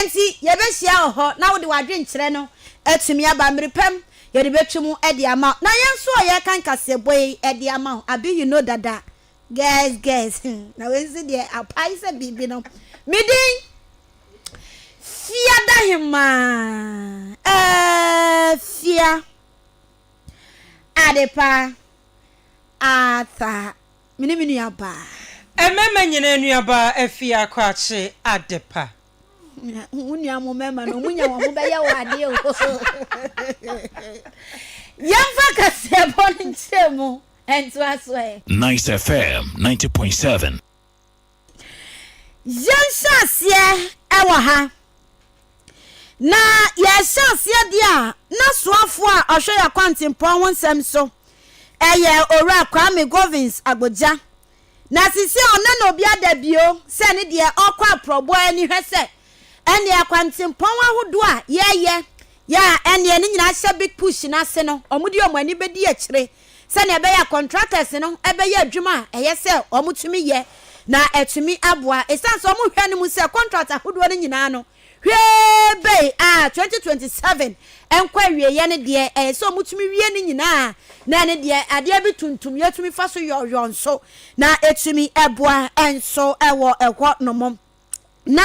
Enti yɛbɛhyia wɔ hɔ, na wode w'adwenkyerɛ no atumi aba. Mmere pa mu, yɛde bɛtwe mu de ama wo. Na yɛn nso a yɛreka nkaseɛbɔ yi de ama wo. Abi you know dada. Girls girls hmm, na wei nso deɛ apae sɛ biribi no. Me din Fiadahemaa Afia Adepa Arthur. Me ne me nuabaa. Mmarima nyinaa nuabaa afie akɔakye adepa. Wo nua mo mmarima no, wɔnya wɔn ho bɛyɛ wo adeɛ o. Yɛmfa kaseɛbɔ no nkyerɛmu ntoa so ɛ. Nice FM ninety point seven. Yɛnhyɛ aseɛ ɛwɔ ha na yɛhyɛ aseɛ deɛ a n'asoafoɔ a ɔhwɛ yɛ kwantempɔn ho nsɛm so ɛyɛ owura Kwame Govins Agbogya na sisi a ɔna na obi ada bio sɛ ne deɛ ɔkɔ aprɔboa ani hwɛ sɛ ɛneɛ kwantempɔn ahodoɔ a yɛyɛ yɛ a ɛneɛ ne nyinaa hyɛ big push no ase no ɔmo de ɔmo ani bɛdi akyire sɛnea ɛbɛyɛ a contractors no bɛyɛ adwuma a ɛyɛ sɛ wɔtumi yɛ na atumi aboa. Esiane sɛ wɔhwɛ no mu sɛ contract ahodoɔ no nyinaa no hwee bɛyi a 2027 nkɔ awieeɛ no deɛ ɛyɛ sɛ wɔtumi wie no nyinaa na ɛne deɛ adeɛ bi tuntum yɛtumi fa so yɔɔyɔɔ nso na ɛtumi boa nso wɔ ɛhɔ nom. na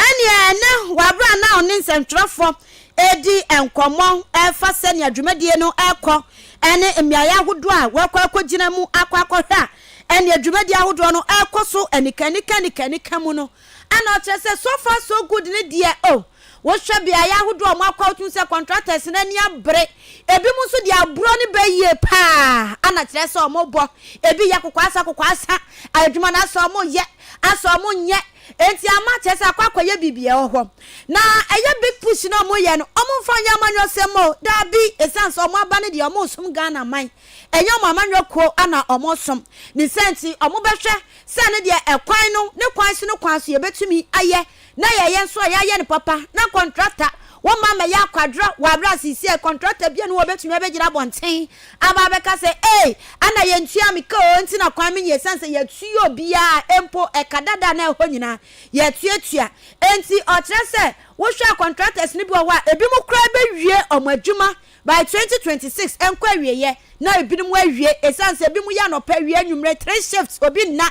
ɛneɛ ɛne wɔaberɛ a na ɔne nsɛntwerɛfoɔ ɛredi nkɔmmɔ ɛfa sɛnea dwumadie no ɛrekɔ ɛne mmeaeɛ ahodoɔ a wɔakɔ akɔgyina mu akɔ akɔhwɛ a ɛneɛ dwumadie ahodoɔ no ɛrekɔ so anika anika anika anika mu no ana ɔkyerɛ sɛ so far so good ne deɛ o oh, Wohwɛ beaeɛ ahodoɔ a wɔakɔ a wotumi sɛ contractors no ani abere. Ebinom nso de aburɔ no bɛ yie paa ana kyerɛ sɛ wɔbɔ. Ebi yɛ kokwaasa kokwaasa. Adwuma no asɛ wɔyɛ, asɛ wɔnyɛ. Enti ama kyerɛ sɛ akɔ akɔyɛ biribi wɔ hɔ. Na ɛyɛ big push na wɔyɛ no, wɔmfa nyɛ amanyɔsɛm o. Dabi, ɛsiane sɛ wɔaba no deɛ wɔresom Ghana man. Ɛnyɛ wɔn amanyɔ kuo ana wɔresom. Ne saa nti wɔbɛhwɛ sɛ ɛno deɛ ɛkwan no, ne kwan so ne kwan so yɛbɛtumi ayɛ. Na yɛyɛ nso a yɛayɛ no papa na kɔntrata wɔmma mmɛyɛ akwadworɔ wɔ aberɛ a seisei kɔntrata biara nni hɔ a ɔbɛtumi abɛgyina abɔnten aba abɛka sɛ ei ana yɛntua me ka oo nti na kwan me nyɛ ɛsiane sɛ yɛatua obiara mpo ɛka dada na ɛhɔ nyinaa yɛatuatua enti ɔkyerɛ sɛ wohwɛ a contractors no bi wɔ hɔ a ebinom koraa bɛwie wɔn adwuma by 2026 ɛnkɔ awieɛ na ebinom awie ɛsiane sɛ ebinom yɛ anɔpa awie anwummerɛ three shifts obi nna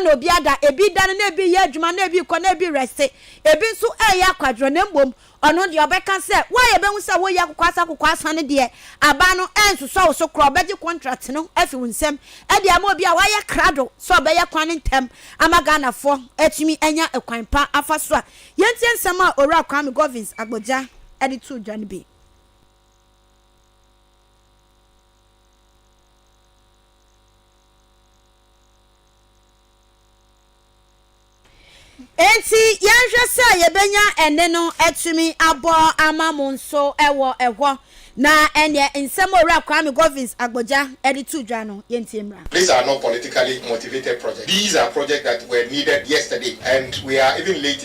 na obi ada, ebi redane na ebi reyɛ adwuma na ebi rekɔ na ebi rese, ebi nso reyɛ akwadworɔ na mmom ɔno deɛ ɔbɛka sɛ wo a yɛbɛhu sɛ woyɛ akokwaasa akokwaasa no deɛ aban no rensosɔ wo so koraa, ɔbɛgye contract no afi wo nsam de ama obi a wayɛ krado sɛ ɔbɛyɛ kwan no ntɛm ama Ghanafoɔ atumi anya kwan pa afa so a. Yɛntie nsɛm a Owura Kwame Govins Agbodza de too dwa no bi. Enti yɛnhwɛ sɛ yɛbɛnya ɛnne no atumi abɔ ama mo nso wɔ ɛhɔ. Na ɛnneɛ nsɛm a Owura Kwame Govins Agbogya de too dwa no, yɛntie mmra. These are not politically motivated projects, these are projects that were needed yesterday and we are even late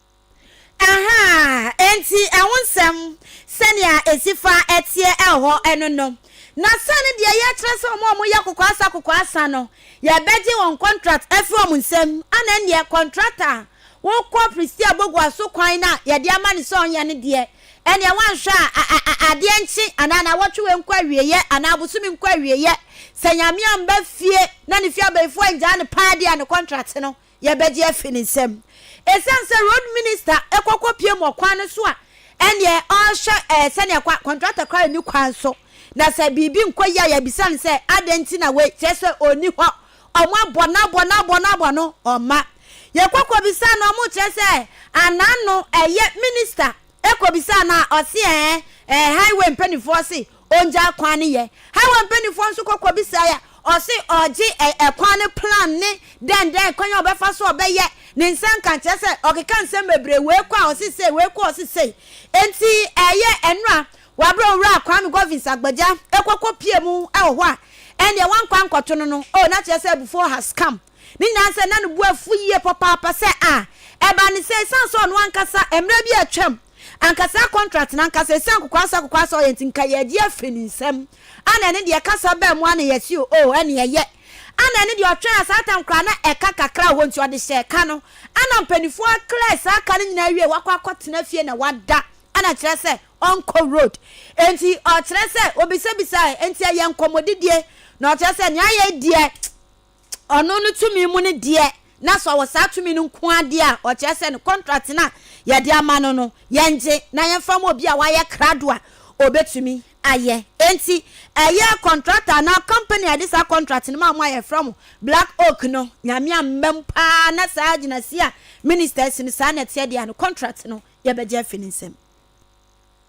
Aha! Enti ɛho nsɛm, sɛnea esi fa teɛ ɛhɔ no no, na sɛn ne deɛ yɛkyerɛ sɛ wɔn a wɔyɛ kokoasa kokoasa no, yɛbɛgye wɔn kɔntrat afi wɔn nsam? Ana ɛnneɛ kɔntrat a wokɔ Priscilla Bogua so kwan no a yɛde ama no sɛ ɔnyɛ no deɛ, ɛnneɛ woanhwɛ a adeɛ nkye anaa nnawɔtwe nkɔ awieeɛ anaa bosome nkɔ awieeɛ, sɛ Nyame amma fie na ne fie abayifoɔ annyaa no paa deɛ a ne kɔntrat no yɛbɛgye afi ne nsam. Esiane sɛ road minista kɔ kɔpue mu ɔkwan no so a, ɛnneɛ ɔrehwɛ ɛɛ sɛnea ɛkɔ a, kɔntratɔ koraa nni kwan so. Na sɛ biribi nkɔ yie a, yɛbisa no sɛ, adɛn nti na wei? Kyerɛ sɛ ɔnni hɔ. Wɔabɔ no abɔ no abɔ no abɔ no, ɔmma. Yɛkɔ kɔbisaa no a, wɔkyerɛ sɛ anaa no ɛyɛ minista kɔbisaa no a, ɔse ɛɛ, ɛɛ highway mpanimfoɔ se Ɔngyaa kwan no yɛ. Hawa mpaninfoɔ nso kɔ kɔ bisaeɛ a, ɔse ɔgye ɛ ɛkwan no plan ne dɛn dɛn kwan a ɔbɛfa so a ɔbɛyɛ ne nsanka nkyerɛ sɛ ɔkeka nsɛm bebree wei kɔ a ɔse sei wei kɔ a ɔse sei enti ɛyɛ ɛno a wabrɛ owura Kwame Godwins Agbagya ɛkɔ kɔ pie mu ɛwɔ hɔ a ɛnneɛ wankɔ ankɔto no no oh na kyerɛ sɛ abufuo has come ne nyinaa sɛ na ne bo afu yie papaapa sɛ a ɛbaa ne sɛ ɛsiane sɛ ɔno ankasa mmerɛ bi a atwam Anka saa contract no ankasa ɛsiane kokoasa kokoasa ɔyɛ nti nka yɛgye afiri ne nsam ana ɛne deɛ ɛkasa baa mu ana yɛse o oh ɛne ɛyɛ ana ɛne deɛ ɔtwɛn a saa tam koraa na ɛka kakra wɔ nti ɔde hyɛɛ ka no ana mpanifoɔ clear saa ka no nyinaa wie wakɔ akɔ tena fie na wada ana kyerɛ sɛ ɔnkɔ road nti ɔkyerɛ sɛ obisabisae nti ɛyɛ nkɔmmɔdidie na ɔkyerɛ sɛ nea ayɛ deɛ Ɔno no tumi mu no deɛ, na sɛ ɔwɔ saa tumi no nko ara deɛ a, ɔkyerɛ sɛ no contract no a yɛde ama no no, yɛngye na yɛmfa ma obi a wayɛ krado a ɔbɛtumi ayɛ. Enti, ɛyɛ contractor anaa company a yɛde saa contract no maa mo a yɛfrɛ mo Black Oak no, Nyame ammam pa ara na saa gyinasie a Minister asi no saa na ɛteɛ deɛ a, no contract no yɛbɛgye afi ne nsam.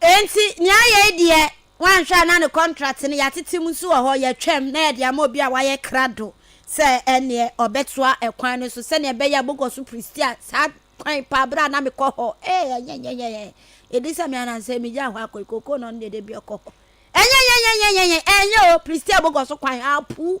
Enti nea ayɛ yi deɛ, woanhwɛ a na ne contract no yɛatete mu nso wɔ hɔ, yɛatwam na yɛde ama obi a wayɛ krado sɛ ɛnneɛ ɔbɛtoa ɛkwan no so sɛnea ɛbɛyɛ a mokɔ so prestia saa kwan paa berɛ a na mekɔ hɔ. Ee, ɛnyɛnyɛnyɛnyɛ. Ɛdi sɛ me anansɛ megyaa hɔ akɔ yi, kookoo na ɔno deɛ da bi ɔkɔ hɔ. Ɛnyɛnyɛnyɛnyɛnyɛ. Ɛnyɛ o, prestia mokɔ so kwan, apuu.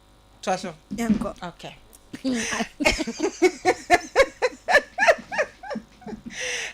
toa so yɛnkɔ okay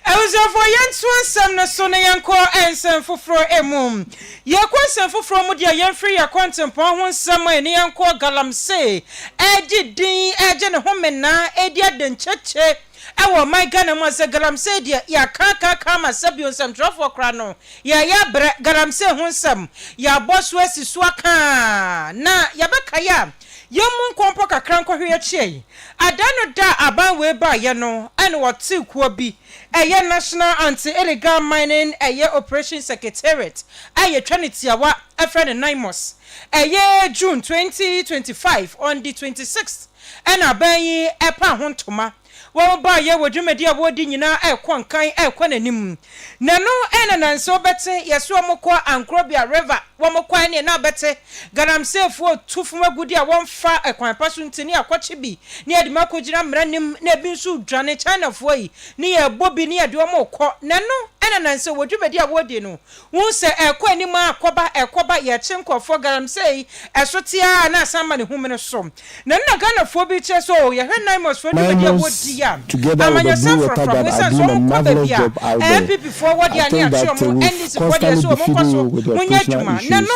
abusuafoɔ yɛnto nsɛm no so na yɛnkɔ nsɛm foforɔ mu yɛkɔ nsɛm foforɔ mu deɛ yɛmfiri yɛ kɔntempɔn ho nsɛm a ɛne yɛnkɔ galamsey ɛgye din ɛgye ne ho menaa ɛdi adankyekye Ɛwɔ ɔman Ghana mu a sɛ galamsey deɛ yɛakaa kaa kaa ma sɛbio nsɛmtwerɛfoɔ koraa no yɛɛyɛ abrɛ galamsey ho nsɛm yɛabɔ so asi so akaa na yɛbɛkae a yɛmmu nkɔ mpo kakra nkɔhwe yɛkyeɛe adaa no da a aban wei baeɛ no ɛna wɔtee kuo bi ɛyɛ National Anti Illegal Mining ɛyɛ Operation Secretariat a yɛtwa no tiawa frɛ no NIMOS ɛyɛ June twenty twenty five on the twenty sixth Ɛna aban yi paa ho ntoma. Wɔbaeɛ wɔ dwumadi a wɔredi nyinaa rekɔ nkan rekɔ n'anim. Na ɛno na na ɛnsɛ wɔbɛte. Yɛse wɔkɔ Ankrobia River, wɔkɔe neɛ na bɛte Galamseyfoɔ tu fam agudeɛ a wɔmfa kwan pa so nti ne yɛakɔkye bi na yɛde mu akɔgyina mmara anim na ebi nso redwane. Chinafoɔ yi ne yɛrebɔ bi ne yɛde wɔn rekɔ. Na ɛno na na ɛnsɛ wɔ dwumadi a wɔredi no. Wohu sɛ ɛrekɔ anim ara ɛrekɔba, ɛrekɔba, yɛrekye nkurɔfoɔ galamsey, ɛso te ara na asan ma ne ho mene so. Na nna Ghanafoɔ bi rekyerɛ sɛ oo, yɛhwɛ Naimosfoɔ dwumadie a wɔdi a, amanyɔsɛm frafra, bohu sɛ nso wɔn kɔ baabi a NPPfoɔ wɔ deɛ a ne yɛakyerɛ wɔn, NDCfoɔ deɛ nso wɔn nkɔ so, monyɛ adwuma. Nnɛ no.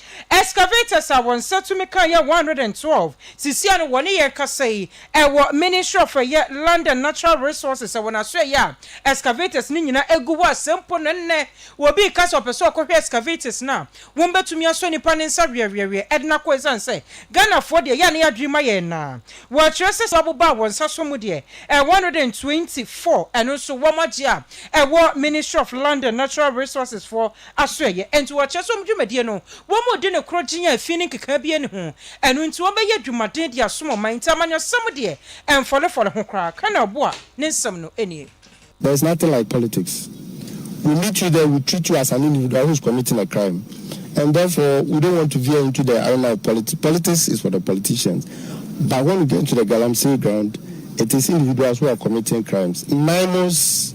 Excavators a wɔn nsa tumi ka yɛ one hundred and twelve sisi ano wɔ ne yɛn kasa yi ɛwɔ Ministry of ɛyɛ Land and Natural Resources ɛwɔ n'asoɛeɛ a excavators no nyina ɛgu hɔ a sɛ mpo no nnɛ obi reka sɛ ɔpɛ sɛ ɔkɔhwɛ excavators no a wɔn bɛtumi asɔ nipa ne nsa weɛweɛweɛ ɛde no akɔ ɛsiane sɛ Ghanafoɔ deɛ ɛyɛ a ne yɛadwene ma yɛn na wɔakyerɛ sɛ sɛ wɔbobaa wɔn nsa so mu deɛ ɛyɛ one hundred and twenty four ɛno nso wɔn agye a ɛwɔ Ministry of Land and Natural Resources foɔ asoɛeɛ. Enti wɔkyerɛ sɛ wɔn dwumadie no, wɔredi no korɔ gyen a fi ne nkeka biara nni ho. Ɛno nti wɔbɛyɛ adwumaden de asom ɔman. Nti amanyɔsɛm deɛ, ɛmfɔlefɔle ho koraa. Ka na ɔboa ne nsɛm no nie. There is nothing like politics. We meet you there, we treat you as an individual who is committing a crime and therefore we don't want to veer into the arena of politics. Politics is for the politicians but when we get into the galamsey ground, it is individuals who are committing crimes. Naimos.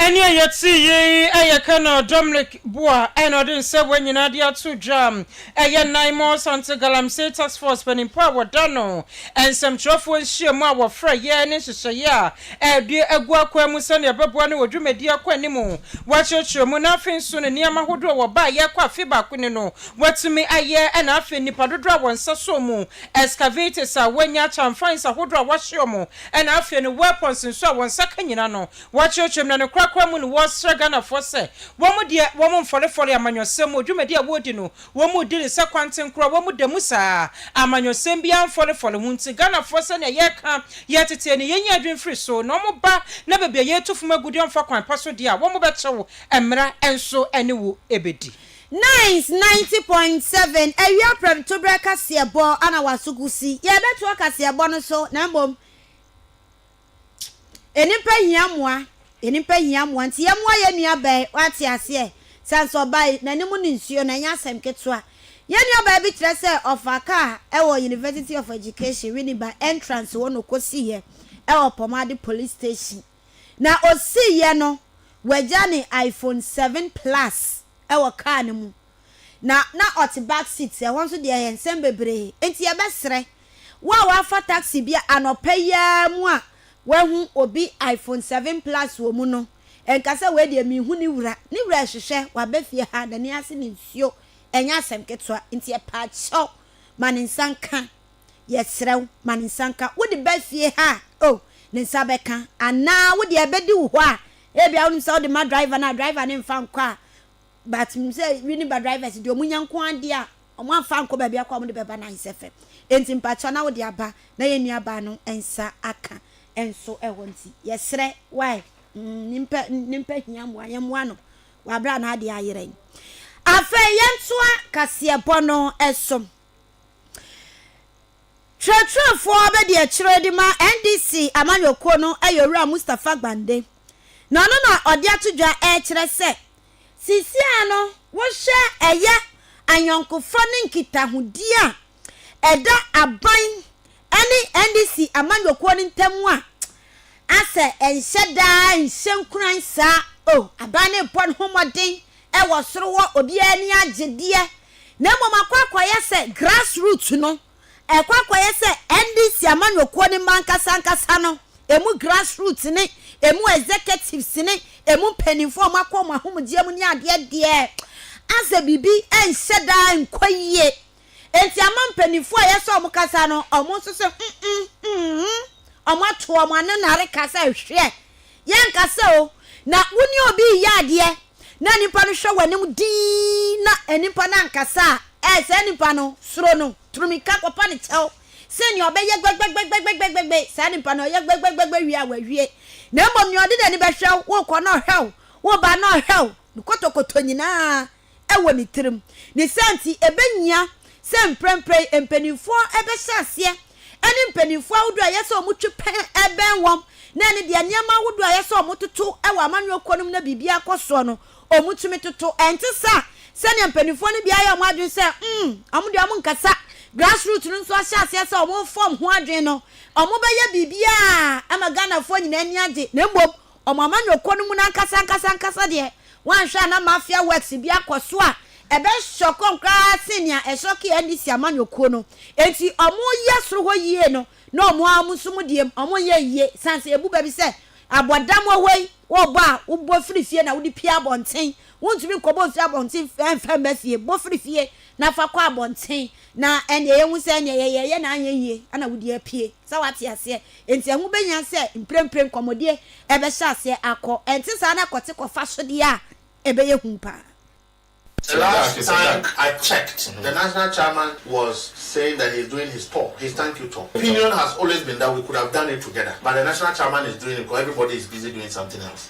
Ɛne a yɛte yi yɛ Colonel Dominic Bua na ɔde nsɛmmoa nyinaa de ato dwa. Ɛyɛ Naimor Asante Galamsey Task Force panimfoɔ a wɔda no nsɛmtwerɛfoɔ nhyiamu a wɔfrɛeɛ ne nhyehyɛeɛ a ɛde agu akwan mu sɛdeɛ ɛbɛboa no wɔ dwumadie akɔanim wɔakyerɛkyerɛ mu na afei nso ne nneɛma ahodoɔ a wɔbaeɛ ɛkɔ afe baako ni no wɔatumi ayɛ na afei nnipa dodoɔ a wɔn nsa sɔɔ mu excavators a wɔanya chamfines ahodoɔ a wɔahye wɔn Ɛna afei no weapons nso a wɔn nsa ka nyina no wɔakyerɛkyerɛ mu na no korakora mu no wɔresra Ghanafoɔ sɛ wɔn deɛ wɔn mfɔlefɔle amanyɔsɛm mu dwumadi a wɔredi no wɔn redi no sɛ kwanten koro a wɔn da mu saa amanyɔsɛm biara mfɔlefɔle ho nti Ghanafoɔ sɛnea yɛreka yɛ tetee no yɛnyi adwene mfiri so na wɔn ba na baabi a yɛretu fam agu deɛ wɔmfa kwan pa so deɛ a wɔn bɛkyew mmara nso ne wo bɛdi. Nice ninety point seven, Awia prɛmtoberɛ kaseɛbɔ ana w'aso gu si? Yɛrebɛtoa kaseɛbɔ no so na mmom nnipa hia mmoa, nnipa hia mmoa nti yɛmmoa yɛn nuabaa yi, woate aseɛ? Ɛsiane sɛ ɔbaa yi n'anim ne nsuo no, ɛnyɛ asɛm ketewa. Yɛn nuabaa bi kyerɛ sɛ ɔfaa kaa wɔ University of Education, Winneba, entrance hɔ na ɔkɔsiiɛ wɔ Pɔmade Police Station. Na osiiɛ no wagya ne iPhone seven plus wɔ car no mu na na ɔte back seat, ɛhɔ nso deɛ ɛyɛ nsɛm bebree. Enti yɛbɛsrɛ wo a woafa taxi bi a anɔpa yi ara mu a woahu obi iPhone seven plus wɔ mu no nka sɛ wei deɛ menhu ne wura, ne wura rehwehwɛ, waba fie ha, n'ani ase ne nsuo, ɛnyɛ asɛm ketewa, enti yɛpaakyɛw ma ne nsa nka. Yɛsrɛ wo, ma ne nsa nka. Wode ba fie ha a, oh, ne nsa bɛka. Anaa wo deɛ ɛbɛdi wo hɔ a, ebia wonim sɛ wode ma driver no a, driver no mfa nkɔ a, but menim sɛ Winneba drivers deɛ wɔnya nko ara deɛ a, wɔamfa ankɔ baabi akɔ a, wɔde bɛba no ayɛ sɛ fɛ. Enti mpakyɛw na wode aba na yɛn nuabaa no nsa aka nso hɔ nti, yɛsrɛ wo a, nnipa, nnipa hia mmoa, yɛmmoa no wɔ aberɛ a n'adeɛ ayerɛn. Afei yɛntoa kaseɛbɔ no so. Kyerɛkyerɛfoɔ abɛdeɛkyerɛ de ma NDC amanyɔkuo no yɛ Owura Mustapha Gbande, na ɔno na ɔde ato dwa rekyerɛ sɛ seesei no wohwɛ ɛyɛ ayɔnkofa ne nkitahodie a ɛda aban ne NDC amanyɔkuo no ntam a, asɛ ɛnhyɛ da ara nhyɛ nkuran saa o, aban no rebɔ ne ho mmɔden wɔ soro hɔ obiara ani agye deɛ na mmom akɔ akɔyɛ sɛ grass root no ɛkɔ akɔyɛ sɛ NDC amanyɔkuo no mma ankasa ankasa no ɛmu grass root ne ɛmu executives ne ɛmu mpanimfoɔ ɔmo akɔ ɔmo ahomgyeɛ mu ne adeɛ deɛ asɛ biribi ɛnhyɛ daa nkɔ yie. Enti ama mpanyimfo a yɛsɔ wɔn kasa no, wɔn nso se, Mm-mm, mm-mm. Wɔn ato wɔn ano na reka sɛ, Hwɛ, yɛnkasa o. Na wo ne obi reyɛ adeɛ, na nnipa no hwɛ w'anim dinn, na nnipa no ankasa a, ɛɛ, saa nnipa no, suro no, tu mmirika kɔpa no kyɛw. Sen nea ɔbɛyɛ gbɛgbɛgbɛgbɛgbɛgbɛgbɛ, saa nnipa no, ɔyɛ gbɛgbɛgbɛgbɛ wie a, wawie. Na mmom nea ɔde n'ani bɛhwɛ wo, worekɔ na ɔhwɛ wo, woreba na ɔhwɛ wo, ne kotokotɔ nyinaa, wɔ ne tirim. Ne saa nti, ebehia sɛ mprempren mpanimfoɔ bɛhyɛ aseɛ ne mpanimfoɔ ahodoɔ a ɛyɛ sɛ wɔtwe pɛn bɛn wɔn na ɛne deɛ nneɛma ahodoɔ a ɛyɛ sɛ wɔtoto wɔ amanyɔkuo no mu na biribiara kɔ soɔ no, wɔtumi toto. Ɛnte saa sɛdeɛ mpanimfoɔ no bi ayɛ wɔn adwene sɛ, mm, wɔn deɛ wɔnkasa. Grassroots no nso ahyɛ aseɛ sɛ wɔrefa wɔn ho adwene no, wɔbɛyɛ biribiara ama Ghanafoɔ nyinaa ani agye, na mmom wɔn amanyɔkuo no mu no ankasa ankasa ankasa deɛ, woanhwɛ a na mafia works bi akɔ so a ɛbɛ shocking koraa sen nea ɛshocking NDC amanyɔkuo no. Enti wɔyɛ soro hɔ yie no na wɔn ara nso mo deɛ mu wɔnyɛ yie sane sɛ yɛbu bɛ bi sɛ abɔdam wɔ hɔ yi, wobɔ a wobɔ firi fie na wode pue abɔnten. Wontumi nkɔbɔ mfiri abɔnten mfa mma fie, bɔ firi fie na fa kɔ abɔnten na ɛnneɛ yɛhu sɛ ɛnneɛ yɛyɛeɛ na anyɛ yie na wode apue. Sɛ woate aseɛ? Enti ɛho behia sɛ mprempren nkɔmmɔdie rebɛhyɛ aseɛ akɔ, ɛnte saa na kɔte kɔfa so deɛ a, ɛbɛyɛ hu paa. The last time I checked the national chairman was saying that he is doing his tour, his thank you tour. Opinion has always been that we could have done it together but the national chairman is doing it because everybody is busy doing something else.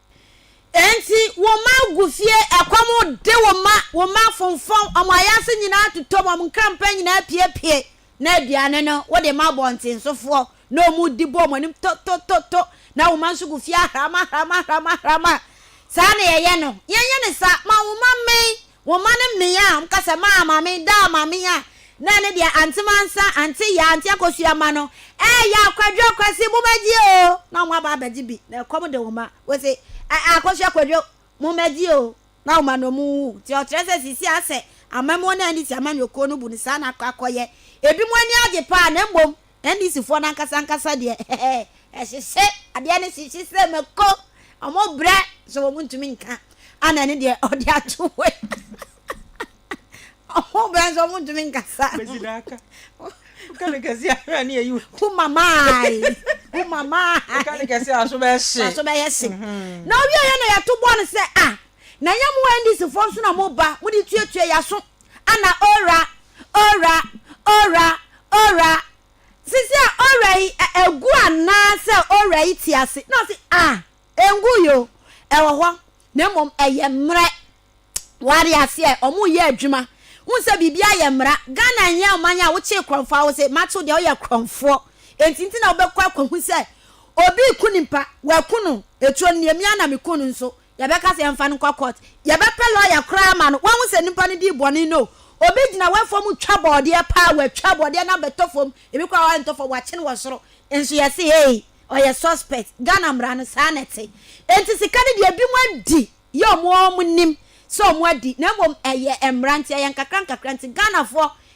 Enti wo mma gu fie, ɛkɔm de wo mma, wo mma fonfɔn, wɔn ayaase nyinaa totɔ mu, wɔn nkrampa nyinaa piepie, na aduane no wode ma abɔntensofoɔ, na wɔdi bɔ wɔn anim to-to-to-to, na wo mma nso gu fie ahram-ahram-ahram-ahram a. Saa na yɛyɛ no. Yɛnyɛ no saa. Ma wo mma mmɛn, Wo mma no mmea a wɔka sɛ, Maa Maame, Daa Maame a na ɛne deɛ Ante Mansa, Ante Yaa, Ante Akosua mma no reyɛ Akwadwo, Kwasi, mommɛgye o! na wɔn aba abɛgye bi na ɛkɔm de wo mma. Wose, Ɛ-ɛ Akosua, Kwadwo, mommɛgye o! na wɔn ano mu wu. Nti ɔkyerɛ sɛ seesei asɛ amammuo no a ɛnni sɛ amanyɔkuo no bu no saa na akɔ akɔyɛ. Ebinom ani agye paa na mmom NDC foɔ no ankasa ankasa deɛ ɛhyehye adeɛ no hyehye sɛ mako ɔmo brɛ sɛ ɔmo ntumi nka ana ɛne deɛ ɔde ato hɔ yi ɔmo brɛ sɛ ɔmo ntumi nkasa humamai humamai aso bɛyɛ se mhm. na ɔwie yɛ na yɛto bɔɔl no sɛ a ah, na yɛ mo NDC foɔ nso na mo ba mo de tuatua yɛ aso Ana owura, owura, owura, owura, sisi a owura yi ɛ egu anaa sɛ owura yi te ase? Na ɔsi ah engu yi o, ɛwɔ hɔ na mmom ɛyɛ mmerɛ. W'ate aseɛ ɔmo yɛ adwuma wohu sɛ biribi ayɛ mmara. Ghana nyɛ ɔman a wokyee korɔnfoɔ a wose mate wo deɛ woyɛ korɔnfoɔ enti nti na wobɛkɔ akɔhu sɛ obi reku nimpa waku no etuo no neɛ mia na meku no nso yɛbɛka sɛ yɛmfa no nkɔ court, yɛbɛpɛ lawyer koraa ama no, wahu sɛ nipa no dii bɔne no, obi gyina w'afuo mu twa bɔɔdeɛ paa, watwa bɔɔdeɛ no abɛtɔ fam, ebi koraa ɔrentɔ fam, wakye no wɔ soro, nso yɛse ei, ɔyɛ suspect, Ghana mmara no saa na ɛte. Enti sika no deɛ binom adi yɛ wɔn ara wɔn nim sɛ wɔn adi, na mmom ɛyɛ mmara nti, ɛyɛ nkakrankakra nti, Ghanafoɔ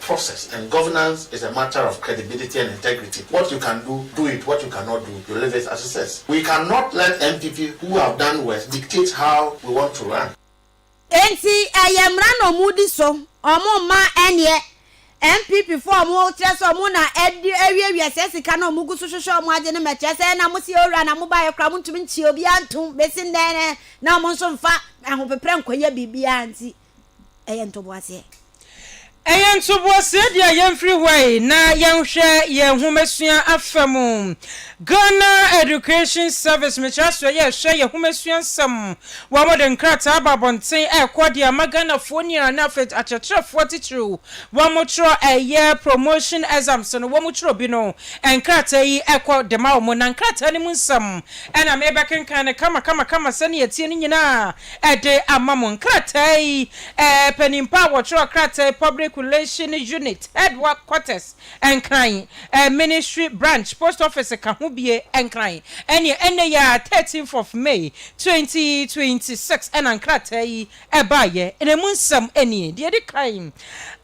process and governance is a matter of credibility and integrity what you can do do it what you cannot do you leave it as it is we can not let NPP who have done worse dictate how we want to run. Enti ɛyɛ mmara na ɔmo di so, ɔmo mma ɛnneɛ NPP foɔ a ɔmo kyerɛ sɛ ɔmo na ɛde awiawia saa sika no a ɔmo gu so hwehwɛ ɔmo agye no mɛkyerɛ sɛ ɛna mo sie owura na mo baeɛ koraa mo ntumi nkyea obiara ntom besi nnɛ na ɔmo nso mfa ahopeprɛ nkɔyɛ biribiara nti ɛyɛ ntoboaseɛ. Ɛyɛ ntoboaseɛ deɛ a yɛmfiri hɔ yi na yɛnhwɛ yɛn nhomasua afa mu. Ghana Education Service mekyerɛ aseɛ yɛ ɛhwɛ yɛn nhomasua nsɛm. Wɔde nkrataa aba abɔnten ɛrekɔ de ama Ghanafoɔ nyinaa ne afei akyerɛkyerɛfoɔ titiriw wɔtwerɛ ɛyɛ promotion exams no wɔtwerɛ bi no nkrataa yi kɔ de ma wɔn na nkrataa no mu nsɛm na merebɛkenkan no kama kama kama sɛdeɛ ɛteɛ no nyinaa. de ama mo. Nkrataa yi panimpa a wɔtwerɛ krataa yi Public Relation Unit Headquarters Nkran, Ministry Branch, Post Office ka ho bie Nkran ɛneɛ ɛnnɛ yi ara 13th of May 2026 ɛna nkrataa yi baeɛ na ɛmu nsɛm nie, deɛ ɛdi kan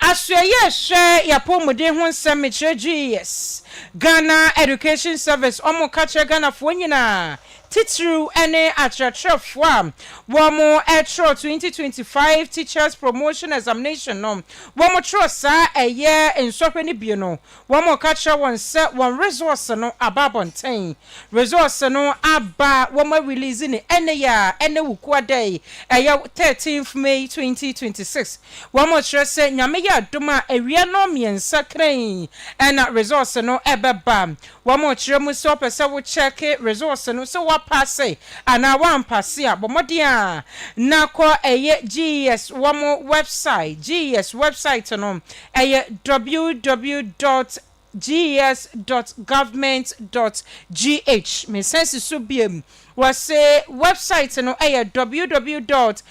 Asoɛeɛ a ɛhwɛ y'apɔmuden ho nsɛm mekyerɛ GES, Ghana Education Service, wɔn ka kyerɛ Ghanafoɔ nyinaa titiriw ne akyerɛkyerɛfo a wɔkyerɛw twenty twenty five Teachers Promotion Examination no, wɔkyerɛw saa ɛyɛ nsɔhwɛ no bi no, wɔka kyerɛ wɔn sɛ wɔn results no aba abɔnten. Results no aba, wɔarelease no ɛnnɛ yi a ɛne Wukua da yi, ɛyɛ thirteenth May twenty twenty six. Wɔkyerɛ sɛ Nyame yɛ adom a awia nnɔnmiɛnsa kran na results no bɛba. Wɔkyerɛ mu sɛ ɔpɛ sɛ wo kyɛɛke results no sɛ woapaase anaa woampaase a, bɔ mmɔden a na kɔ ɛyɛ GES wɔn wɛbsae, GES wɛbsaet no ɛyɛ www dot ges dot government dot gh, mesan si so biom Wɔse wɛbsaet no yɛ ww dot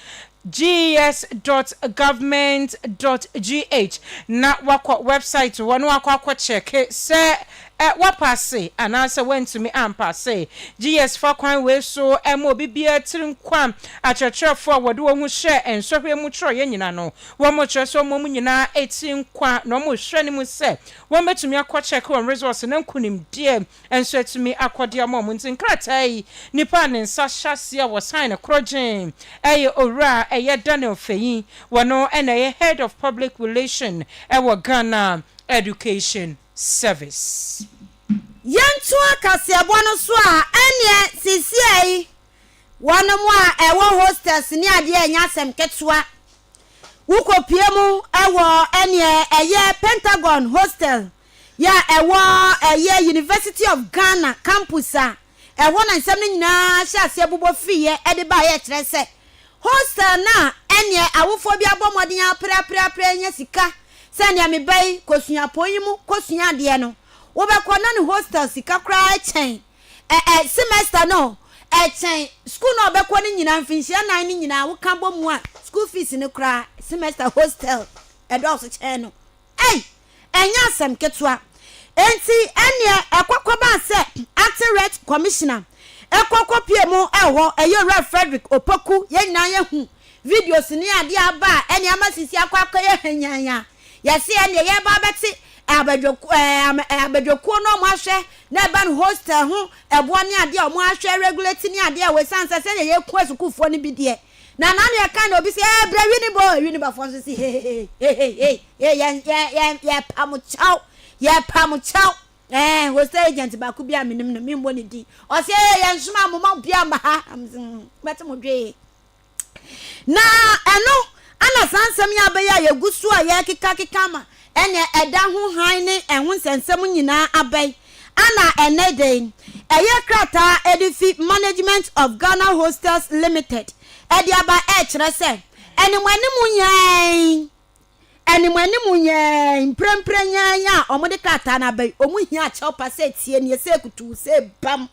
ges dot government dot gh na woakɔ wɛbsaet hɔ na woakɔ akɔkyɛke sɛ woapaase anaasɛ woantumi ampaase GS. Fa kwan wei so ma obi biara tiri nkwa akyerɛkyerɛfoɔ a wɔde wɔn ho hyɛɛ nsɔhwɛ mu twerɛeɛ nyinaa no. Wɔkyerɛ sɛ wɔn nyinaa tiri nkwa na wɔrehwɛ anim sɛ wɔbɛtumi akɔkyɛke wɔn results na nkunimdie Nso atumi akɔ de ama wɔn. Nti nkrataa yi, nipa a ne nsa hyɛ aseɛ wɔ sign no korɔ gyee ɛyɛ Owura ɛyɛ Daniel Feyin, wɔno na ɛyɛ Head of Public Relation ɛwɔ Ghana Education Service. Yɛntoa kaseɛbɔ no so a, ɛnneɛ seesei yi wɔnom a ɛwɔ hostels ne adeɛ a ɛnyɛ asɛm ketewa. Wokɔpue mu wɔ ɛnneɛ ɛyɛ Pentagon Hostel yɛ a ɛwɔ ɛyɛ University of Ghana campus a ɛhɔ na nsɛm no nyinaa hyɛɛ aseɛ bobɔ fiiɛ de baeɛ kyerɛ sɛ hostel no a ɛneɛ awofoɔ bi abɔ mmɔden apereapereaperɛ anya sika sɛ neɛ me ba yi kɔ suapɔn yi mu kɔ sua adeɛ no wobɛkɔ na ne hostel sika koraa kyɛn ɛ ɛ semester no ɛkyɛn school no a ɔbɛkɔ no nyinaa mfinhyia nnan no nyinaa woka bɔ mu a school fees no koraa semester hostel ɛdɔɔso kyɛn no Ei! Ɛnyɛ asɛm ketewa. Enti ɛnneɛ ɛkɔ kɔbaa sɛ Acting Reg Commissioner kɔ kɔpue mu wɔ hɔ, ɛyɛ Owura Frederick Opoku. Yɛn nyinaa yɛhu videos ne adeɛ a aba a ɛnneɛ ama sisi akɔ akɔyɛ hanyaan a yɛse ɛnneɛ yɛreba abɛte abadwak ɛɛm ɛɛ abadwakuo no wɔn ahwɛ na ɛba no hostel ho ɛboɔ ne adeɛ a wɔn ahwɛ regulate ne adeɛ a wɔ ɛsiane sɛ sɛdeɛ yɛkua sukuufoɔ no bi deɛ Na na nea ɛka na obi se, ee, brɛ wi ne bɔ o, wi ne bɔfoɔ nso se, hehehehe, hehehehe, ee, yɛn, yɛn, yɛn, yɛpa mo kyɛw, yɛpa mo kyɛw, ee, hostel agent baako bi a menim no, memmɔ ne din, ɔse, ee, yɛnsomaa mo, momma obiara mma ha, na mese, hmm, mobɛte mo dwee. Na ɛno, ɛna saa nsɛm yi abɛyɛ a yɛgu so a yɛkekakeka ama. Ɛnneɛ ɛda ho hann ne ɛho nsɛnsɛm nyinaa abɛn. Ana ɛnnɛ dɛn? Ɛyɛ krataa a ɛde fi Management of Ghana Hostels Limited de aba rekyerɛ sɛ, Animuanim nyɛɛnn, animuanim nyɛɛnn, mprempren nyɛɛnn a wɔde krataa no aba yi, wɔhia kyɛwpa sɛ etie nie, sɛ ekutuu, sɛ ebam.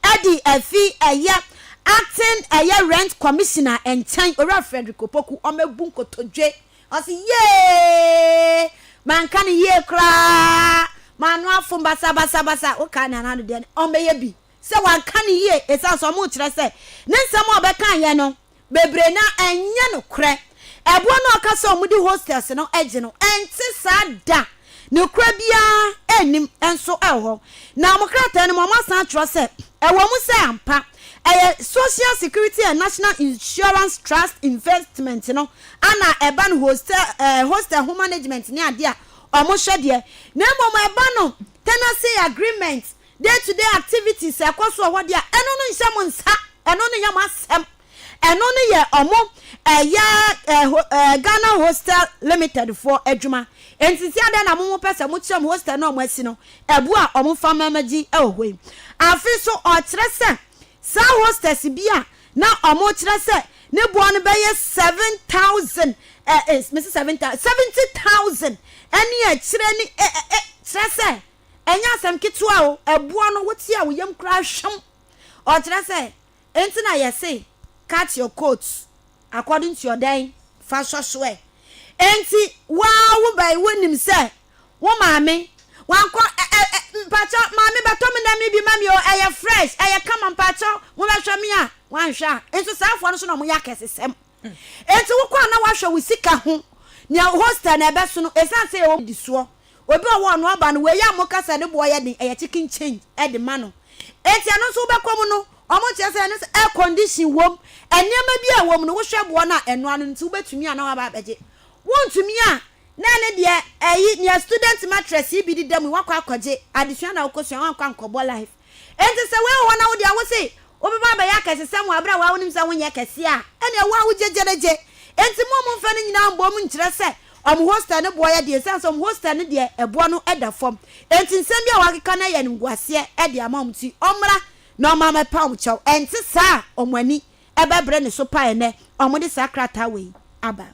Ɛde afi ɛyɛ Acting ɛyɛ Rent Commissioner nkyɛn, Owura Frederick Opoku, wɔabu nkotodwe. Ɔse yeeeee manka no yie koraa maano afom basabasabasa wokae nea na ano deɛ no ɔmmɛyɛ bi sɛ wanka no yie ɛsiane sɛ ɔmo kyerɛ sɛ ne nsɛm a ɔbɛkaeɛ no bebree no ara ɛnyɛ nokorɛ ɛboɔ no a ɔka sɛ ɔmo de hostels no gye no ɛnte saa da. Ne kura biara nnim nso hɔ. Na wɔn krataa no mu wɔasan akyerɛ sɛ, Ɛwɔ mu sɛ ampa ɛyɛ Social Security and National Insurance Trust Investment no ana ɛba no hostel eh, hostel ho management ne adeɛ a wɔhwɛ deɛ, na mmom ɛba no tenancy agreement, day to day activities a ɛkɔ so wɔ hɔ deɛ a, ɛno no nhyɛ mo nsa, ɛno no nyɛ mo asɛm. Ɛno no yɛ ɔmo ɛyɛ ɛɛ Ghana Hostel Limited foɔ adwuma. Enti nti adɛn na mo mo pɛ sɛ mo kyerɛ mo hostel no a ɔmo asi no ɛbo a ɔmo fa ma ma gyi ɛwɔ hɔ yi? Afe so ɔkyerɛ sɛ saa hostels bi a na ɔmo kyerɛ sɛ ne boɔ no bɛyɛ seven thousand ɛɛ me se seven thousand seventy thousand ɛne akyire ne ɛ ɛ ɛ kyerɛ sɛ ɛnyɛ asɛm ketewa o ɛboɔ no wo te a wo yam koraa hwam ɔkyerɛ sɛ Enti na yɛse cut your coat according to your dɛn fa sɔ so ɛ. Enti woaa wo ba yi wonim sɛ wo maame wankɔ ɛ ɛ ɛ mpakyɛw maame bɛtɔ me nam yi bi ma me o ɛyɛ fresh ɛyɛ kama mpakyɛw mobɛhwɛ me a wanhwɛ a nso saa foɔ no so na ɔmo yɛ akɛsesɛm. Enti wokɔ a na woahwɛ wo sika ho nea hostel no ɛbɛso no esiane sɛ yɛwɔ di soɔ. Obi a ɔwɔ ɔno aba no wei a moka sɛ ne boɔ yɛ den ɛyɛ chicken change de ma no enti ɛno nso wobɛkɔ mu no wɔnkyerɛ sɛ ɛno nso air condition wom nneɛma bi a ɛwɔ mu no wohwɛ boɔ no a ɛnoa no nti wobɛtumi a na waba abɛgye wontumi a na ɛne deɛ ɛyi nea student mattress yi bi deda mu yi wakɔ akɔgye adesua na wokɔsua wankɔ ankɔbɔ life Enti sɛ woehu hɔ na wo de a wose wobɛba abɛyɛ akɛsesɛm wɔ bere a wo ara wunim sɛ wonyɛ kɛse a, ɛnneɛ wo ara wugye gyerɛgye. Enti mo a momfa ne nyinaa mmɔ mu nkyerɛ sɛ wɔn hostel no boɔ yɛ den esiane sɛ wɔn hostel no deɛ ɛboɔ no da fam. Enti nsɛm bi a wɔakeka no yɛ animguaseɛ de ama wɔn nti wɔmmra na wɔmma mɛpa wɔn kyɛw. Ɛnte saa a wɔn ani bɛbere ne so paa ɛnnɛ a wɔde saa krataa wei aba.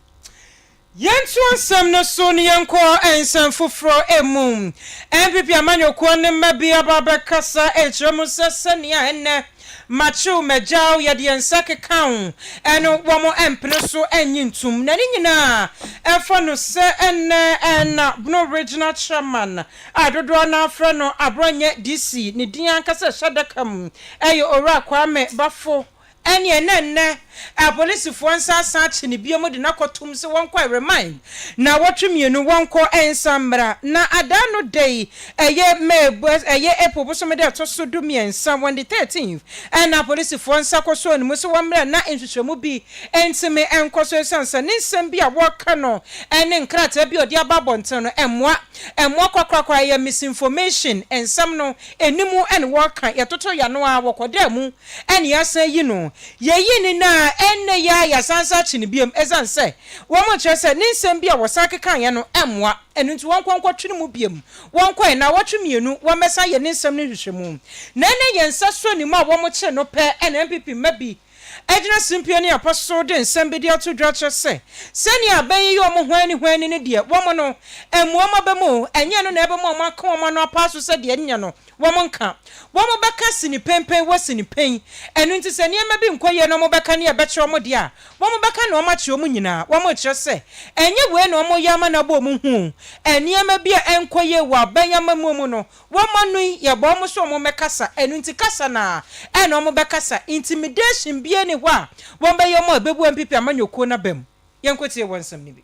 Yɛnto nsɛm no so na yɛnkɔ nsɛm foforɔ mu. NPP amanyɔkuo no mma bi aba abɛkasa akyerɛ mu sɛ sɛnea ɛnnɛ makyew magyaw, yɛde yɛn nsa keka ho no wɔmpene so nnye ntom. Na ne nyinaa ɛfa no sɛ ɛnnɛ na Bono Regional Chairman a dodoɔ no ara frɛ no Aborɔnyɛ DC, ne din ankasa a ɛhyɛ adaka mu yɛ Owura Kwame Baffour Ɛneɛ na nnɛ apolisifoɔ nsa asan akye no biom de no akɔtom sɛ wɔnkɔ remand nnawɔtwe mmienu wɔnkɔ nsan mmra. Na adaa no da yi ɛyɛ May bos ɛyɛ April bosome da ɛtɔ so du mmiɛnsa on the 13th ɛna apolisifoɔ nsa kɔsɔɔ no mu sɛ wɔmmra na nhwehwɛmu bi ntumi nkɔ so ɛsiane sɛ ne nsɛm bi a wɔreka no ɛne nkrataa bi a ɔde aba abɔnten no ɛmmoa ɛmmoa korakorakora ɛyɛ misinformation nsɛm no ɛni mu ɛne wɔreka yɛtoto yɛano ara wɔkɔdaa mu na yɛasan eyi no. Yeyii no nnɛ a ɛnnɛ yi ara yɛasan san akye no bio esiane sɛ wɔkyerɛ sɛ ne nsɛm bi a wɔsan kekaeɛ no mmoa. Ɛno nti wɔnkɔ nkɔtwe no mu bio. Wɔkɔe. Nnawɔtwe mmienu wɔmmɛsan yɛ ne nsɛm no nhwehwɛmu. Na ɛnnɛ yɛn nsa so nim a wɔkyere no pɛ na NPP mma bi gyina simpie ne apa so de nsɛm bi de ato dwa kyerɛ sɛ sɛnea abɛn yi yɛ wɔn hwanni hwanni no deɛ wɔn no mmoa wɔn aba mu. Ɛnyɛ ɛno na ɛbɛma wɔaka wɔn ano apa so sɛ deɛ ɛnyɛ no. wɔn nka. Wɔbɛka sini penpen wɔ sini pen. Ɛno nti sɛ nneɛma bi nkɔ yie na wɔbɛka nea ɛbɛkyerɛ wɔn deɛ a, wɔbɛka nea wɔakyerɛ wɔn nyinaa. Wɔrekyerɛ sɛ, ɛnyɛ wei na wɔyɛ ama no abɔ wɔn hu o. Nneɛma bi a ɛnkɔ yie wɔ aban amammuo mu no, wɔn ano yi, yɛbɔ wɔn sɛ wɔmmɛkasa. Ɛno nti kasa no ara na wɔbɛkasa. Intimidation biara nni hɔ a wɔbɛyɛ wɔn a ɛbɛbu npp amanyɔkuo no abam. Yɛnkɔtie wɔn nsɛm no bi.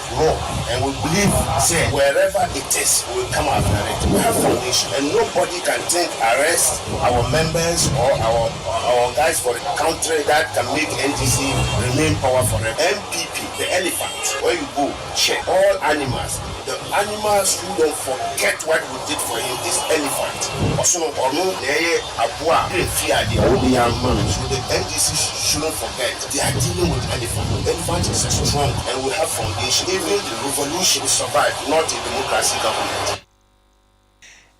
No, and we believe sɛ wherever it is we will come after it, we have foundation and nobody can think arrest our members or our our guys for the country that can make NDC remain power forever, NPP the elephant where you go hwɛ all animals the animals who don't forget what we did for him is elephant ɔsono ɔno na ɛyɛ aboa a firi adeɛ wode ama no so the NDC shouldn't forget. The idea no with elephant no, elephant is a strong and will have foundation even the revolution survive not a democracy government.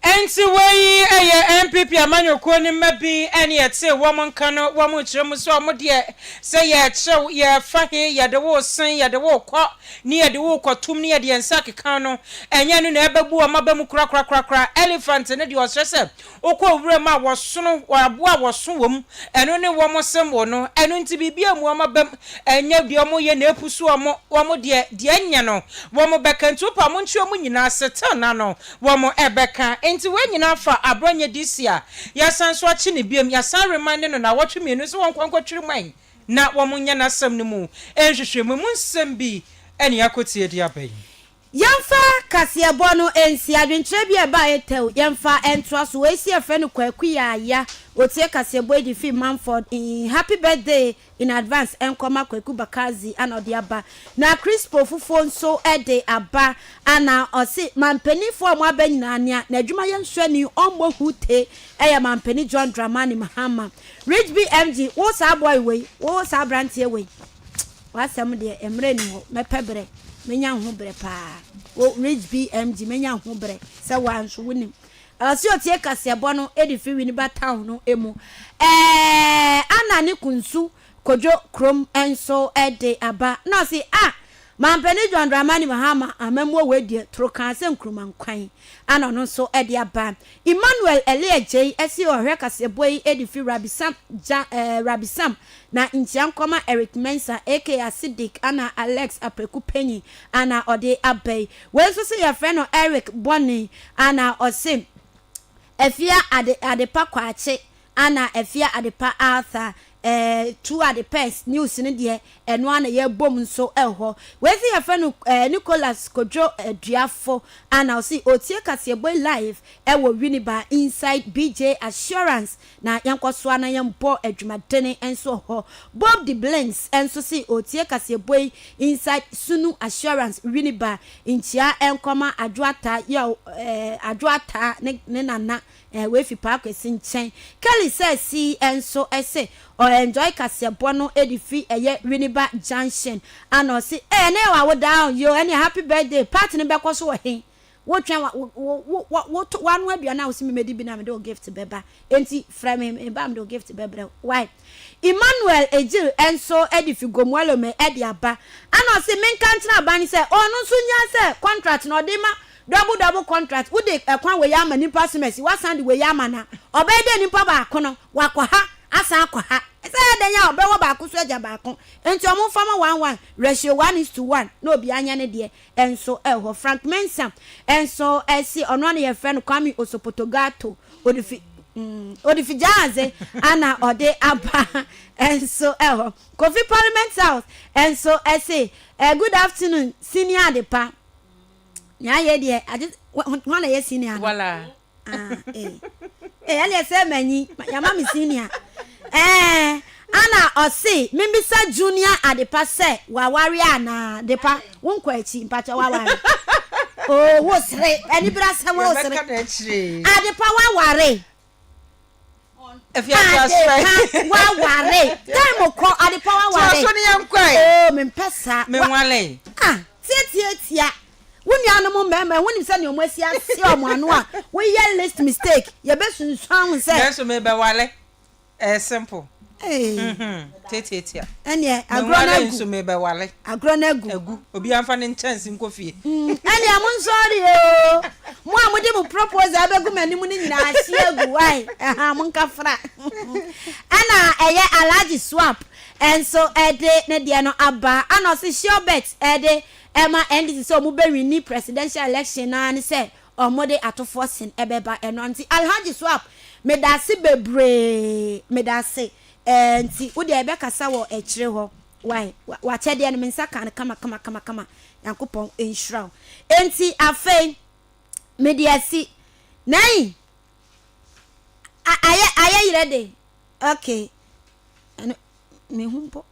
Ɛnti wei ɛyɛ NPP amanyɔkuo no mma bi ɛne yɛtee wɔn nka no wɔn rekyerɛ mu sɛ wɔn deɛ sɛ yɛrekyerɛ wo yɛrefa he yɛde wo resen yɛde wo rekɔ ne yɛde wo rekɔ tum ne yɛde yɛn nsa rekeka wo no ɛnyɛ ɛno na ɛbɛbu wɔn aba mu korakorakorakora elephant no deɛ ɔsrɛ sɛ Wokɔ wuram a, wɔsono wɔn aboa a wɔso wom, ɛno ne wɔn symbol no. Ɛno nti biribi ammu wɔn abam, ɛnyɛ deɛ wɔyɛ na apusu wɔn. Wɔn deɛ, deɛ ɛnyɛ no, wɔbɛka, nti wopɛ a monkyere wɔn nyinaa, still na no, wɔbɛka. Nti wei nyinaa fa aberɛ ɔnyɛ this year, yɛasan so akye no biom, yɛasan remande no nnawɔtwe mmienu sɛ wɔnkɔ nkɔtwere man na wɔnyɛ n'asɛm no mu nhwehwɛmu. Emu nsɛm bi na yɛakɔtie de aba yi. Yɛmfa kaseɛbɔ no nsi adwenkyerɛ bi a ɛbaeɛ tɛw. Yɛmfa ntoa so. Wei si ɛfrɛ no Kwaku Yaaya. Ɔtie kaseɛbɔ yi de firi Mumford. Happy birthday in advance nkɔma Kwaku Bakardzi ana ɔde aba. Na Crispo Fufuo nso de aba ana ɔse mampaninfoɔ a wɔaba nyinaa nea n'adwumayɛ nso ani ɔmmɔ hu te ɛyɛ Mampanin John Dramani Mahama. Rich BMG wo saa boy wei, wo saa abranteɛ wei. W'asɛm deɛ, mmerɛ nni hɔ. Mɛpɛ berɛ, mɛnya ho berɛ pa ara. Wo Rich BMG, mɛnya ho berɛ sɛ wo ara nso wonim. Ɛwɔ sɛ ɔtie kaseɛbɔ no de firi Winneba Town no mu. Ɛɛɛɛɛɛɛɛɛɛ Anna ne Kunsu kɔdwo kurom nso de aba. Na ɔse, ah! Manpanin John Dramani Mahama amammuo wei deɛ toro kaa sɛ Nkrumah nkwan a na ɔno nso de aba. Emmanuel Ellie Agyei se ɔhwɛ kaseɛbɔ yi de firi Rabi Sam gya eh, Rabi Sam na nkyia nkɔma Eric Mensah aka Asidik ana Alex Apreku Panyin ana ɔde aba yi. Wei nso se yɛfrɛ no Eric Bɔne ana ɔse Afia Ade Adepa Kwakye a na afia adepa Arthur eh, tu ade pɛs news no deɛ ɛno ara na yɛbom nso hɔ. Wei nso yɛfrɛ no eh, Nicholas Kodwo Aduafo a na ɔse ɔtie kaseɛbɔ yi live eh, wɔ Winneba inside BJ Assurance na yɛnkɔ so ara na yɛmbɔ adwumadene nso hɔ. Bob de Blinks nso se ɔtie kaseɛbɔ yi inside Sunu Assurance Winneba. Nkyia nkɔma Adwo Ataa, yow eh, Adwo Ataa ne ne nana Eh wei fi paa kwesi nkyɛn. Kelly sɛ see nso se ɔ enjoy kaseɛbɔ no de fi ɛyɛ Winneba junction ana ɔse eh ɛnɛ yɛ w'awodaa ɔ yoo ɛneɛ happy birthday party no bɛkɔ so wɔ he? Wo twɛn wa wo wo wo wo to w'ano aduane a wose me mɛdi bi na mede wo gift bɛba enti frɛ me me ba mede wo gift bɛbrɛ wo wai. Emmanuel Egyil nso de fi Gomuelome de aba ana ɔse menka nkyerɛ aban no sɛ ɔno nso nnya sɛ contract no ɔde ma Double double contract wode ɛkwan wei ama nipa semɛsi wasan de wei ama no a ɔbɛyɛ dɛn nipa baako no wakɔ ha asan akɔ ha ɛsɛ yɛ dɛn a ɔbɛwɔ baako so agya baako nti ɔmo nfa ma one one ratio one is to one na obiara nyɛ ne deɛ ɛnso ɛwɔ Frank Mensah ɛnso ɛsi ɔno ano yɛfrɛ no Kwame Osopotogato odifi odifi gyaadze ana ɔde aba ɛnso ɛwɔ Kofi Parliament House ɛnso ɛsi good afternoon senior adepa. Nea ayɛ deɛ agye hwan na ɛyɛ senior no. Wala. Ah ee ee ɛna ɛsɛ manyi yama me senior ɛɛ ana ɔse membisa junior adepa sɛ waware anaa depa wo nkɔ akyi mpakyɛ waware oo wo sere anibere asɛm wo sere adepa waware adepa waware time kɔ adepa waware so ne yɛn kɔe oo mempɛ saa menwale ah tiatiatia wo nuanom mmarima ho nim sɛ ne wɔn asi ase wɔn ano a woyɛ list mistake yɛbɛsunsuan ho sɛ nanso mebɛwale ɛyɛ simple Tiatiatia. Ɛnneɛ agorɔ no agu. nso mebɛwale. Agorɔ no agu. Agu. Obi anfa ne nkyɛnse nkɔ fie. Mm, ɛnneɛ mo nsɔre oo. Mo a mode mo propose abɛgu m'anim no nyinaa ahye agu wae. Ɛha mo nkafra. Ɛna ɛyɛ Alhaji Swap ɛnso ɛde ne deɛ no aba. Ɛna ɔse Shiobet ɛde ɛma NDC sɛ ɔmo bɛwini presidential election naa ne sɛ Wɔde atofoɔ sen bɛba ɛno nti Alhaji Swap medase bebree medase ɛɛ nti wo deɛ bɛkasa wɔ akyire hɔ wai wakyɛdeɛ no me nsa kaa no kama kama kama kama Nyankopɔn nhyira wo nti afei mede asi nai ayɛ ayɛ yerɛ den okay ɛno mehu mpo.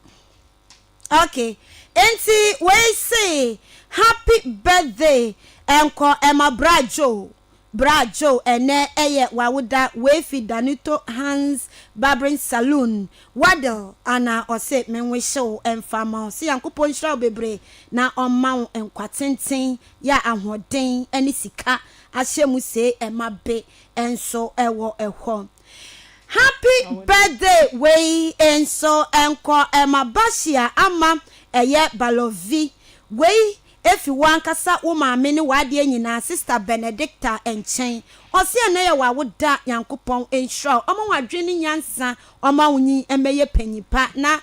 Ok enti wei see happy birthday nkɔ ɛma bra Joe bra Joe ɛnɛ ɛyɛ wawoda wei fi Danuto Hans Barbering Saloon Waddell Anna ɔse me nwihye wo mfa ma wo se Nyankopɔn nhyira wo bebree na ɔmma wo nkwa tenten ya ahoɔden ɛne sika ahyɛ mu see ɛma be nso ɛwɔ ɛhɔ. Happy birthday wei nso nkɔ ɛma Bashia ama ɛyɛ Balovi wei ɛfi wankasa wo maame ne wadeɛ nyinaa sister Benedicta nkyɛn ɔse ɛnɛ yɛ wawoda Nyankopɔn nhyira wo ɔma wadwene ne nyansa ɔma wo nyin mmɛyɛ panyin pa na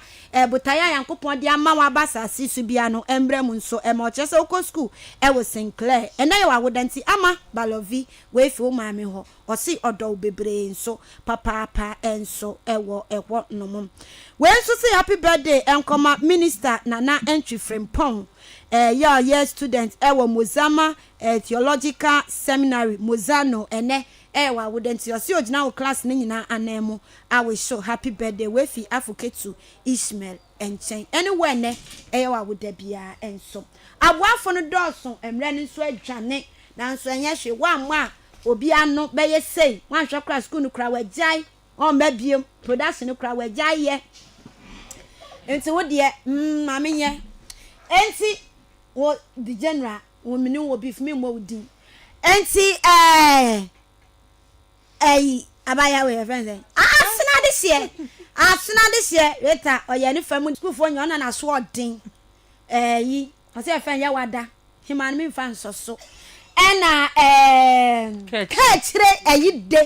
botaeɛ a Nyankopɔn de ama wo aba asase so bia no ɛmmerɛ mu nso ɛma ɔkyerɛ sɛ wokɔ school ɛwɔ Sinclair ɛnɛ yɛ wawoda nti ama Balovi wei fi wo maame hɔ ɔse ɔdɔ wo bebree nso papaapa nso wɔ hɔ nom. Wei nso se happy birthday nkɔma Minister Nana Antwi Frimpong yɛ ɔyɛ student wɔ Mozama Theological Seminary, Mozano ɛnɛ yɛ w'awoda nti ɔse ogyina wo class no nyinaa anan mu a wish wo happy birthday. Wei fi Afo Ketu Ishmael. nkyɛn. Ɛne wo ɛnnɛ, ɛyɛ wo awoda biara nso. Aboafo no dɔɔso, mmrɛ no nso adwane, nanso ɛnyɛ hwee. Woammɔ a, obi ano bɛyɛ sei. Woanhwɛ koraa a, sukuu no koraa wɔagyae, wɔmma bio. Production no koraa wɔagyae yɛ. Enti wo deɛ, mm, ma menyɛ. Enti wo, the general, wo, menim wo beef, memmɔ wo din. Enti, ɛɛ, Ɛyi abaayewa wei yɛfrɛ no sɛn? Asena deseɛ Asena deseɛ Rita ɔyɛ ne fa mu sukuufoɔ nyɛ ɔna n'aso ɔden ɛyi ɔsɛ yɛfrɛ no yɛwada hema no memfa nsɔ so ɛna ɛɛ kɛkyire ɛyi de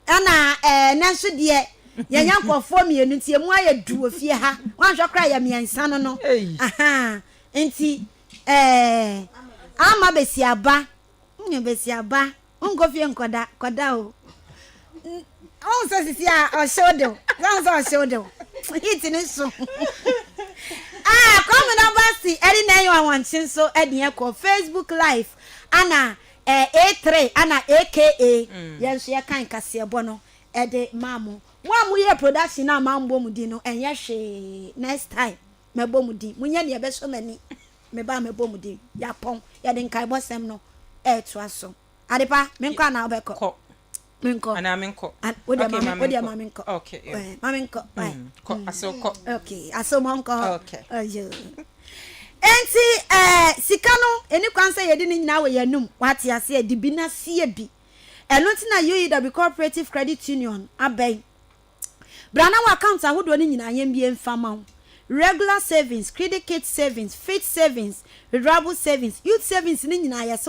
ɛna ɛɛ nɛ nso deɛ yɛnyɛ nkurɔfoɔ mmienu nti emu ayɛ du wɔ fie ha wanhwɛ koraa yɛ mmiɛnsa no no ahaa nti ɛɛ ama bɛsi aba Nnyɛ basiaba, nnkɔ fie nnkɔda, kɔda o. Wohu sɛ sisi a ɔhyew de o, wohu sɛ ɔhyew de o, heat no so. Ah, Kwame Nabasi ɛde na ɛyɛ ɔwɔnkye nso ɛde ɛkɔ Facebook live ana eh, A3 ana AKA mm. yɛn nso yɛkan kaseɛbɔ no ɛde maa mo. Mo a moyɛ production a mammɔ mo din no ɛnyɛ hwee, next time mɛbɔ mo din, monyɛ deɛ ɛbɛsɔ m'ani. me ba a mɛbɔ mu din, yɛapɔn, yɛde nkaebɔsɛm no retoa so. Adepa, menkɔ anaa wobɛkɔ? Kɔ. Menkɔ. Anaa menkɔ? An- Wo deɛ Okay, ma ma me- wo deɛ menkɔ. ma menkɔ. Okay, yeah. Eh, Ma menkɔ. Why? Mm, kɔ, asew kɔ. Okay, aso mo nkɔ. Okay. Ayo. Enti eh, sika no ɛni kwan sɛ yɛde ne nyinaa wɔ yɛn anum wate aseɛ de bi na sie bi. Ɛno nti na UEW Cooperative Credit Union abɛn Bra na w'account ahodoɔ no nyinaa yɛnbue mfa ma wo, Regular Savings, Credit Kit Savings, Fixed Savings, Withdrawable Savings, Youth Savings no nyinaa yɛse